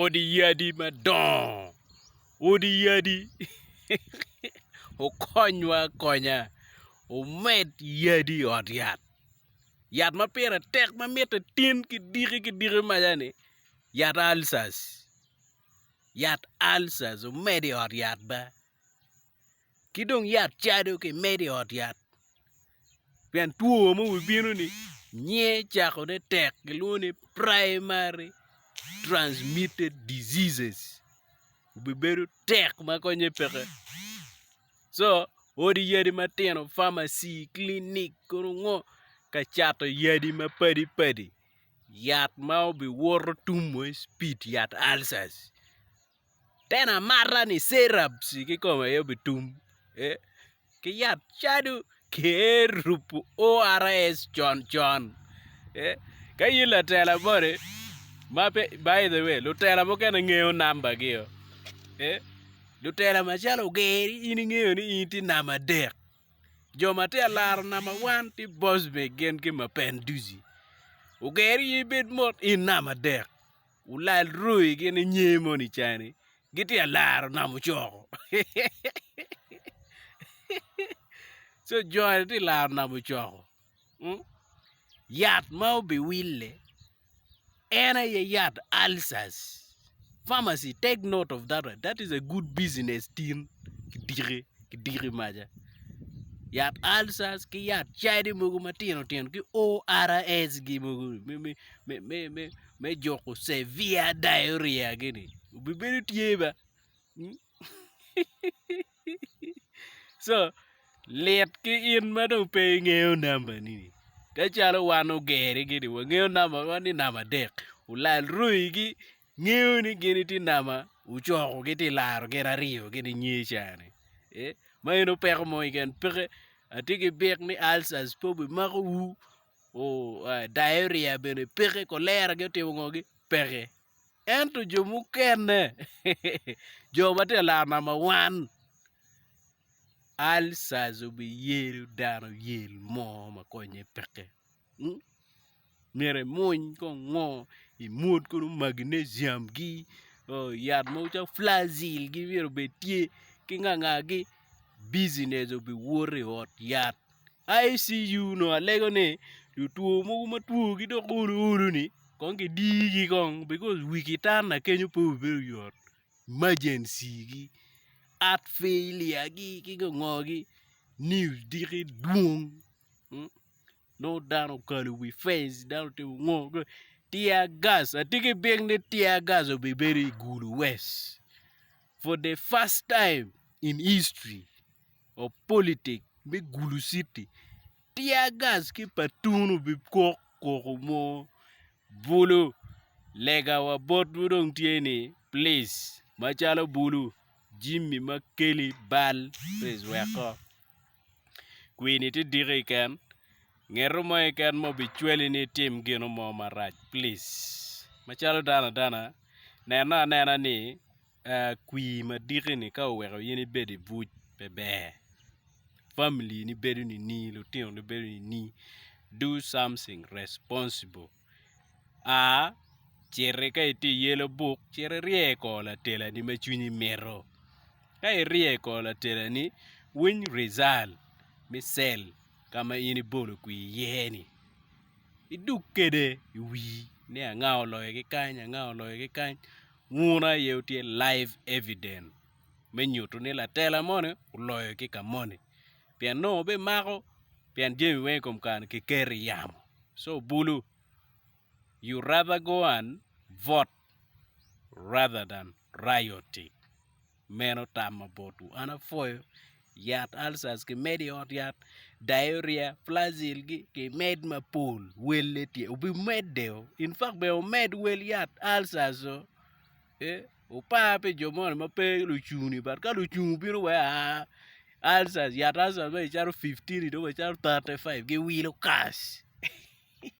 odi yadi madongo odi yadi okonywa akonya omed yadi i ot yat yat ma pire tek ma mitte tin ki diki ki diki maca ni yat alcers yat alcers omed i ot yat be. Ki dong yat cado ki medo i ot yat pien two ma wi bino ni nyiye cako ne tek kilwongo ni primary transmitted diseases obi bedo tek ma konye peke co odi yadi matino pharmacy, clinic kono ngo ka cato yadi ma padi padi yat ma obi woto tum moc pit yat ulcers. Tena amata ni Cerab ci kikome aye obitum eh ki yat cadu Kerub ors con con eh ka in latela moni ma pe by the way lutela mukene ngeyo number gi o eh lutela macalo ogeri in ingeyo ni in itye namba adek jo ma tye ka laro namba wan tye Bosbe gin ki Mapenduzi ogeri in ibed mot in namba adek. Wulal roi gin inye moni cani gitye ka laro nam ocoko co joni tye ka laro nam ocoko yat ma obiwille en aye yat alcers pharmacy take note of that one that is a good business tin kidiki kidiki maca yat alcers ki yat cadi mogo matino tino ki ORS gi mogo ni me me me. me juko severe diarrhea gini obibedo tye ba co lit ki in ma dong pe ingeyo nambani ka calo wan ogeri gini wangeyo nambawa ni namba adek olal roi gi ngeyo ni gin tye namba ocoko gitye laro gin aryo gini nge cani ma eno peko mo keken peke atye ki byek ni ulcers pe obimako wu. diarrhea bene peke, cholera gi otimo ngo gi peke. Ento jo mukene jo ma tye alar namba wan ulcers obiyelo dano yel mo ma konye peke hmm myero imuny kong ngo imwod kono magnesium gi yat mogo calo flagyl gi myero obed tye ki ngangagi business obiwot i ot yat. ICU onongo alego ni lutwo mogo ma twogi dok olo olo-ni kong kidigi kong bikos wi kitanda kenyo pe obedo yot imajencigi heart failure gi ki ngo ngo gi niu diki dwong nongo dano okalo wi fence dano otimo ngo ki ngo tear gas atye ki byek ni tear gas obibedo i gulu west. For the first time in history of politics me Gulu City, tear gas ki patun obikok koko mo bulu. Lega wa botwu dong tye ni please macalo bulu Jimmy Makeli bal please weko. kwini tye diki keken ngeto mo keken ma obicwali ni itim gino mo marac please macalo dano adana neno anena ni kwii madiki ni ka oweko in ibedo i buc pe ber family ni bedo nini lutinoni bedo nini do something responsible A. Citi ka itye i yelo buk cit irye i kor latelani ma cwinyi mito. Ka irye i kor latelani, winy rizal me cell ka ma in ibolo kwir iye-ni. Idug kwede i wii ni anga oloyo ki kany anga oloyo ki kany. Wunu aye wutye live evident me nyuto ni latela moni oloyo ki ka moni. pien nongo bimako pien jami weng i kom kare-ni kiketo i yamo. So bulu, you rather go and vote rather than rioting. Meno tamma botwu. An apwoyo yat ulcers kimedo i ot yat, diarrhea, flagyl gi kimed mapol. Welle tye, obimedde o, in fact bene omed wel yat ulcers o. Wupar pi jo moni ma pe lucung-ni but ka lucung obino wek a alcers yat alcers ma icaro fifteen-ni dong wek icaro thirty five giwilo kac.